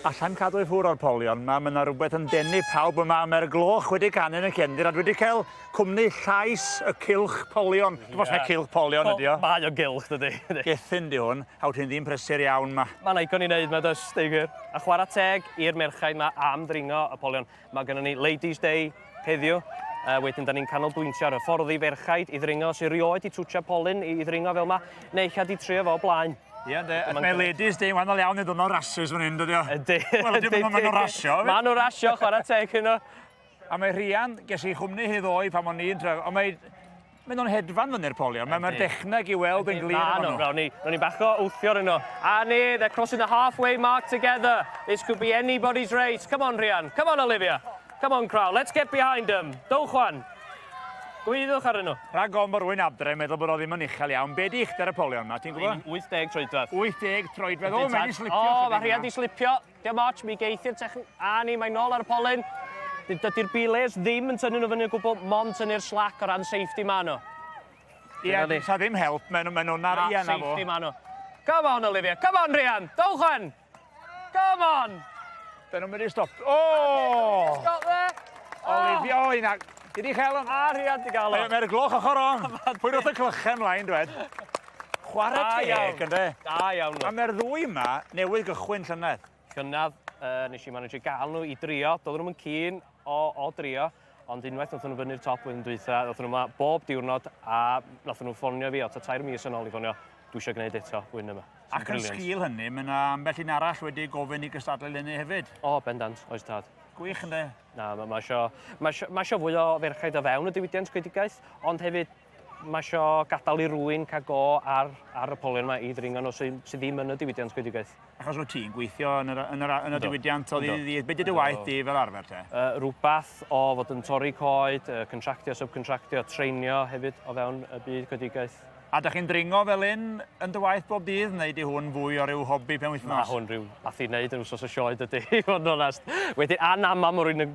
Allai'm cadw i ffwr o'r polion 'ma, mae 'na rywbeth yn denu pawb yma, mae'r gloch wedi canu yn y cefndir a dwi wedi cael cwmni llais y cylch polion. Dwi'm os mai cylch polion ydi o. Mae o'n gylch dydi? Gethin 'di hwn, a wyt ti'n ddyn prysur iawn 'ma. Mae'n ddigon i wneud 'ma does, deu gwir. A chwarae teg i'r merchaid 'ma am ddringo y polion. Mae gennym ni Ladies Day heddiw, a wedyn da ni'n canolbwyntio ar hyfforddi ferchaid i ddringo, sy'n rioed i twtio polyn i ddringo fel yma, neu eich di trio fo blaen. Ie, ynddi. Mae ladies di, wahanol iawn i ddwrnod rhasys fan hyn, dydio. Ynddi. Wel, ynddi, mae nhw'n rasio. Mae nhw'n rasio, chwarae teg hynno. A mae Rhian, ges i chwmni hi ddoe pan o'n i'n tref, ond mae Mae nhw'n hedfan fyny'r polion. Mae mae'r dechneg i weld yn glir yn nhw. Rown ni bach o wthio yn nhw. A ni, they're crossing the halfway mark together. This could be anybody's race. Come on, Rhian. Come on, Olivia. Come on, crowd. Let's get behind them. Dowch wan. Gwyddwch ar nhw. Rhag gom bod rwy'n adre yn meddwl bod o ddim yn uchel iawn. Be di uchder y polion yma, ti'n gwybod? 80 troedfedd. 80 troedfedd. O, mae'n slipio. O, mae Rhian di slipio. Diolch much, mi geithi'r techn... A ni, mae'n nôl ar y polyn. Dydy'r belays ddim yn tynnu nhw fyny o gwbl, mond tynnu'r slac o ran safety ma nhw. Ie, Dyna ni. sa ddim help, maen nhw- maen nhw'n ar... Na, Ie, na fo. safety ma nhw. Come on, Olivia, come on, Rhian, dowch yn! Come on! Dyn nhw'n mynd i stop... O! Stop there! Oh, Olivia, o, hynna. Dwi di cael hwn. A Rhian, di gael o. Mae'r gloch ochr on. Pwy roth y clychau mlaen, dwed? Chwarae teg. Da iawn. Ynde? Da iawn ŵan. A mae'r ddwy yma newydd gychwyn llynedd. Llynedd, uh, nes i manage gael nhw i drio. Doedden nhw'n cyn o, o drio. Ond unwaith nath nhw fyny'r top flwyddyn dwytha, nath nhw yma bob diwrnod a nath nhw ffonio fi o ta tair mis yn ôl i ffonio, dwi eisiau gwneud eto wyn yma. Ac yn sgil hynny, mae yna ambell un arall wedi gofyn i gystadlu hynny hefyd. O, oh, bendant, oes tad. Gwych ynddo? Na, mae ma eisiau, ma eisiau, ma eisiau fwy o ferchaid o fewn y diwydiant gwedigaeth, ond hefyd Mae isio gadael i rwy'n cael go ar, ar y polion yma i ddringo nhw sydd, sydd ddim yn y diwydiant gwedigaeth. Achos rwyt ti'n gweithio yn, yr, yn, yr, yn y diwydiant o ddydd i ddydd. Beth ydy dy waith di fel arfer te? Uh, rhywbeth o fod yn torri coed, uh, contractio, subcontractio, treinio hefyd o fewn y byd gwedigaeth. A da chi'n dringo fel un yn dy waith bob dydd, neu di hwn fwy o ryw hobi pen wythnos? Mae hwn rhyw fath i wneud yn wsos o sioed ydy, i fod yn onest. Wedyn, a na mam rwy'n